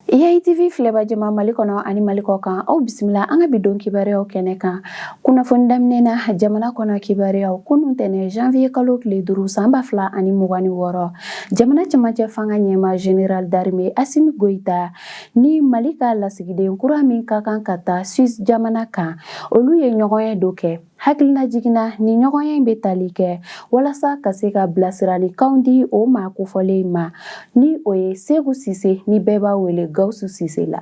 EITV filɛbaa jama Mali kɔnɔ ani Mali kɔ kan aw bisimila an ka bi don kibaruyaw kɛnɛ kan kunnafoni daminɛ na jamana kɔnɔ kibaruyaw kunun tɛnɛ janvier kalo tile duuru san ba fila ani mugan ni wɔɔrɔ jamana cɛmancɛ fanga ɲɛmaa général d'armée Assimi Goïta ni Mali ka lasigiden kura min ka kan ka taa Suisse jamana kan olu ye ɲɔgɔnye dɔ kɛ Hakilila jiginna nin ɲɔgɔnye in bɛ tali kɛ walasa ka se ka bilasiralikan di o maa kofɔlen ma ni o ye Seku Sise ni bɛɛ b'a wele Gawusu Sise la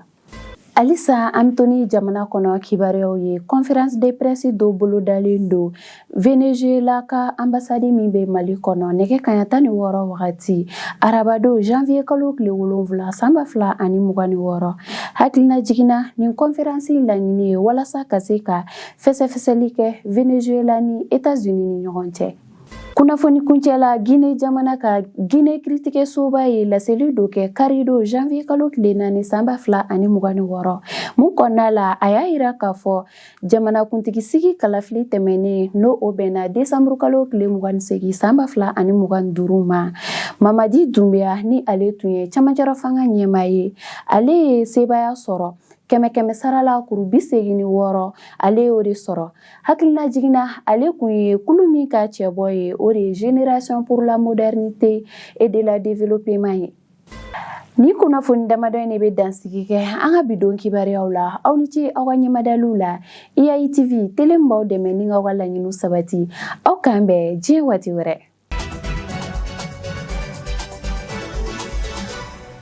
halisa an tolen jamana kɔnɔ kibaruyaw ye kɔnfransi de presi dɔ bolodalen don Venezuela ka anbasadi min bɛ mali kɔnɔ nɛgɛ kanɲɛ tan ni wɔɔrɔ wagati arabadon janvier kalo tile wolonwula san ba fila ani mugan ni wɔɔrɔ hakilila jiginna nin kɔnfransi laɲini ye walasa ka se ka Fɛsɛfɛsɛli kɛ Venezuela ni Etats-Unis ni ɲɔgɔn cɛ. Kunnafoni kuncɛ la Guinée jamana kan Guinée kiiritigɛsoba ye laseli dɔ kɛ karidon janvier kalo tile naani san ba fila ani mugan ni wɔɔrɔ min kɔnɔna la a y'a yira k'a fɔ jamanakuntigi sigi kalafili tɛmɛnen n'o o bɛnna desanburu kalo tile mugan ni segin san ba fila ani mugan ni duuru ma Mamadi Doumbouya ni ale tun ye cɛmancɛrɔ fanga ɲɛmaa ye ale ye sebaaya sɔrɔ kɛmɛ kɛmɛ sarala kuru bi segin ni wɔɔrɔ ale y'o de sɔrɔ hakilila jiginna ale kun ye kulu min ka cɛbɔ ye o de ye Génération pour la modernité et de la développement ye nin kunnafoni damadɔ in de bɛ dansigi kɛ an ka bidon kibaruyaw la aw ni ce aw ka ɲɛmadaliw la EITV tele min b'aw dɛmɛ ni k'aw ka laɲiniw sabati aw k'an bɛn diɲɛ waati wɛrɛ